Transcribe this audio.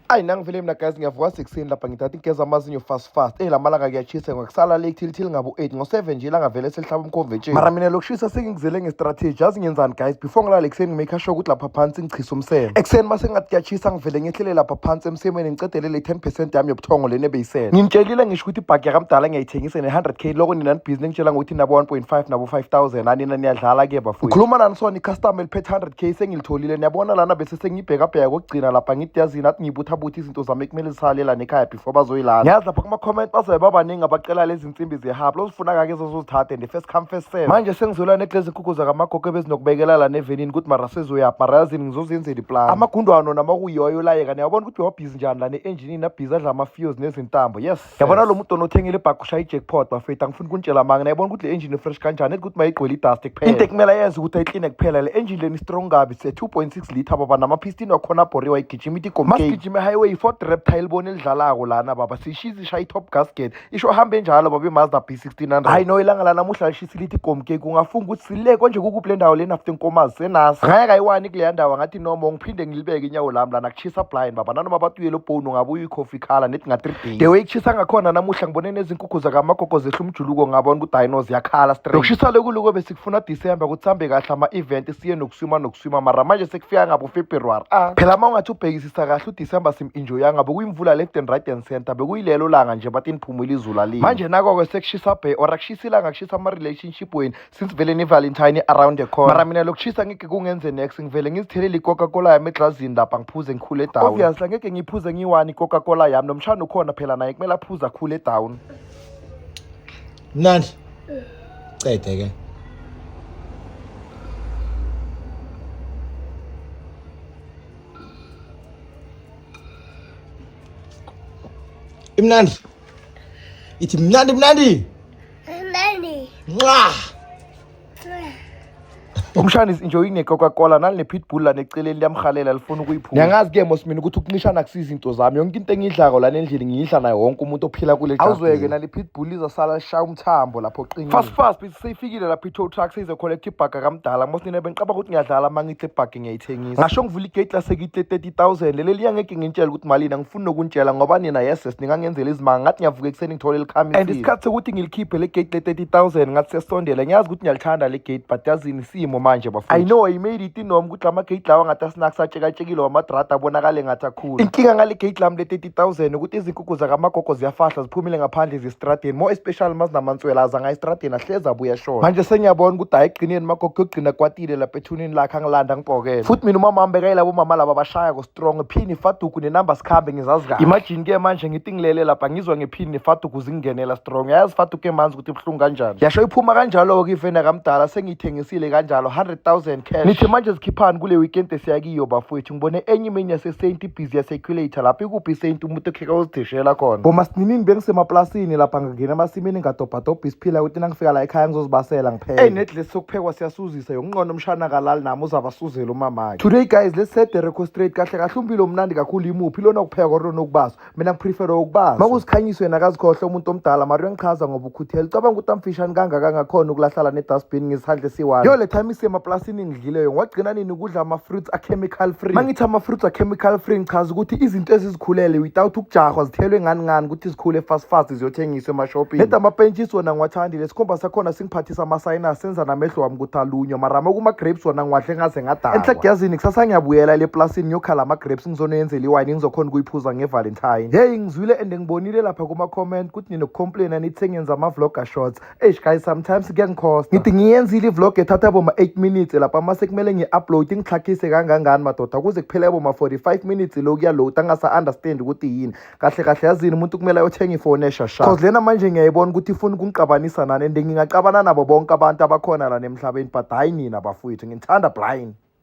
ayi nangivele mina guys ngiyavuka sekuseni lapha ngithatha ingeza amazinyo fast fast eyi eh, la malanga kuyashisa ngokusala late thilithili ngabu-eight ngo-seven nje langavele selihlaba umkhomvetsheni mara mina lokushisa sengingizele ngestrateji yazi ngenzani guys before ngilale ekuseni ngimake sure ukuthi lapha phansi ngichisa umseme ekuseni uma sengathi kuyashisa ngivele ngehlele lapha phansi emsemeni ngicedelele i-ten percent yami yobuthongo lena ebeyisele ngimtshelile ngisho ukuthi ibhagi yakamdala ngiyayithengisa ne-hundred k loko nina nibhizi ningitshela ngokuthi nabo one point five nabo five thousand anina niyadlala ke bafowethu ngikhuluma nani sona icustomer eliphethe hundred k sengilitholile niyabona lana bese sengibhekabheka kokugcina lapha ngithi yazi nathi ngibuthabutha izinto zami kumele zisale la nekhaya before bazoyilala ngiyazi lapha kuma-comment bazobe babaningi abacela lezi nsimbi zehabla ozifuna-kake ezozozithatha and first come first serve manje sengizolwa neglezi inkukhu zakamagogo ebezinokubekela la nevenini ukuthi mara sezoyaphi mara yazini ngizozenzela iplani amagundwano namakuyiwayo layeka niyabona ukuthi wabhizi njani la ne-enjinini abhizi adla ama-fios nezintambo yes yabona lo mudono othengile ibhakhi ushaya i-jackpot bafethu angifuni ukunitshela manga nayibona ukuthi le engine fresh kanjani ethi ukuthi mayigcwele idust kuphela into ekumele yenze ukuthi ayikline kuphela le engine leni strong kabi se 2.6 liter baba nama-pistin wakhona abhoriwe ayigijima ithi igommasigijime highway i-ford repta elibona elidlalako lana baba siyishiza ishaya i-top gasket isho hambe njalo baba imazda b 1600 hayi no ilanga lanamuhla lishisa lithi igomkeki ungafunga ukuthi sile konje kukuphi le ndawo lena after inkomazi senasi ngaya kayiwani kuleya ndawo ngathi inomo ngiphinde ngilibeke inyawo lami lana kuchisa blind baba nanoma batuyele ubhonu ngabe uyikhofi ikhala nethi nga-three days the way kuchisa ngakhona namuhla ngibone nezinkukhu zakamagogo zehla umjuluko ngabona ukuthi hayi no ziyakhala straight lokushisa lokuliko besikufuna december ukuthi sihambe kahle ama-event siye nokuswima nokuswima mara manje sekufika ngabo february ah phela uma ungathi ubhekisisa kahle udecember sim-enjoyanga bekuyimvula left and right and center bekuyilelo langa nje bathi niphumile izulu alini manje nako-ke sekushisa bhe or akushisa ilanga kushisa ama-relationship weni since vele ne-valentine around the corner mara mina lokushisa ngeke kungenze next ngivele ngizithelele i-coca cola yami eglazini lapha ngiphuze ngikhule down obviously angeke ngiyiphuze ngiyi-one i-coca cola yami nomshana ukhona phela naye kumele aphuze akhule down mnandi cede ke imnandi ithi mnandi mnandi Nqa! Umshana is enjoying ne-coca-cola nalne-pitbull lana eceleni liyamhalela lifuna ukuyiphula niyangazi ke mosmini ukuthi ukuncishana akusiza into zami yonke into engiyidlako lana endlini ngiyidla nayo wonke umuntu ophila kule awuzweke nale-pitbull izasala lishaya umthambo lapho qinile fast fast bisi seyifikile lapho i-tow truck seyizocollecta ibhaga kamdala mosnine bengiqaba ukuthi ngiyadlala uma ngidla ibhaga ngiyayithengisa ngasho ngivula igate lasekitle 30000 leli liya ngeke ngintshele ukuthi malini angifuni nokuntshela ngoba nina yeses ningangenzela izimanga ngathi ngiyavuka ekuseni ngithole likhami and isikhathi sokuthi ngilikhiphe le gate le 30000 ngathi sesondela ngiyazi ukuthi ngiyalithanda le gate but yazini simo manje bafo i know i made it inom ukuthi lama gate lawa ngathi asinakusatshekatshekile wamadrada abonakale ngathi akhulu inkinga ngale gate lami le thousand ukuthi izinkukhu zakamagogo ziyafahla ziphumile ngaphandle zistradeni more especially mazinamantswela azanga estradeni ahlezi abuya shona manje sengiyabona ukuthi hayi egcineni magogo yogcina kwatile lapha ethunini lakhe angilanda ngibhokele futhi mina umama wami bekayilabo mama laba bashaya ko-strong phini faduku nenamba sikhambe ngizazi kahle imagine ke manje ngithi ngilele lapha ngizwa ngephini nefaduku zingingenela strong yayazi faduku emanzi ukuthi ibuhlungu kanjani yasho iphuma kanjalo-ke ivena kamdala sengiyithengisile kanjalo 100 000 cash nithi manje zikhiphani kule weekend esiyakiyo bafowethu ngibone enye imini yasesaint ibhizi yaseculator lapho ikuphi isaint umuntu okheka uzidishela khona ngoma sininini bengisemaplasini lapha ngingena emasimini ngadobhadobha isiphila ukuthi nangifika la ekhaya ngizozibasela ngiphele eyi nedlesi sokuphekwa siyasuzisa yonqona umshana kalali nami uzabasuzela umamakhe today guys let's set the record straight kahle kahle umbilo omnandi kakhulu imuphi lona ukupheka or lona ukubaswa mina ngiprefere ukubaza makusikhanyisa yena akazikhohle umuntu omdala mari uyangichaza ngoba ukhuthela ucabanga ukuthi amfishane kangaka ngakhona ukulahlala ne-dustbin ngesandla esiwani yo le time isemaplasini ngidlile yona wagcina nini ukudla ama-fruits a-chemical free ma ngithi ama-fruits a-chemical free ngichaza ukuthi izinto ezizikhulele without ukujahwa zithelwe ngani ngani ukuthi zikhule fast fast ziyothengiswa emashopini neda amapentshisi wona ngiwathandile sikhomba sakhona singiphathisa amasayinasi senza namehlo wami ukuthi alunywa mara ma kuma-grapes wona ngiwadle ngaze ngadakwa enhlagiyazini kusasa ngiyabuyela le plasini ngiyokhala ama-grapes ngizonenzela iwayini ngizokhona ukuyiphuza ngevalentine heyi ngizwile and ngibonile lapha kuma-comment ukuthi ninokukhomplayina nithi sengenza ama-vlogger shots eish guys sometimes kuyangikhosta ngithi ngiyenzile ivlog ethatha boma-eight minutes lapha uma sekumele ngi-upload ngixhakhise kangangani madoda kuze kuphele boma-forty-five minutes lo kuyaload angasa-understand ukuthi yini kahle kahle yazini umuntu kumele ayothenga ifoni eshasha cause lena manje ngiyayibona ukuthi ifuna ukungiqabanisa nani and ngingaqabana nabo bonke abantu abakhona la nemhlabeni but hhayi nina bafowethu ngithanda blind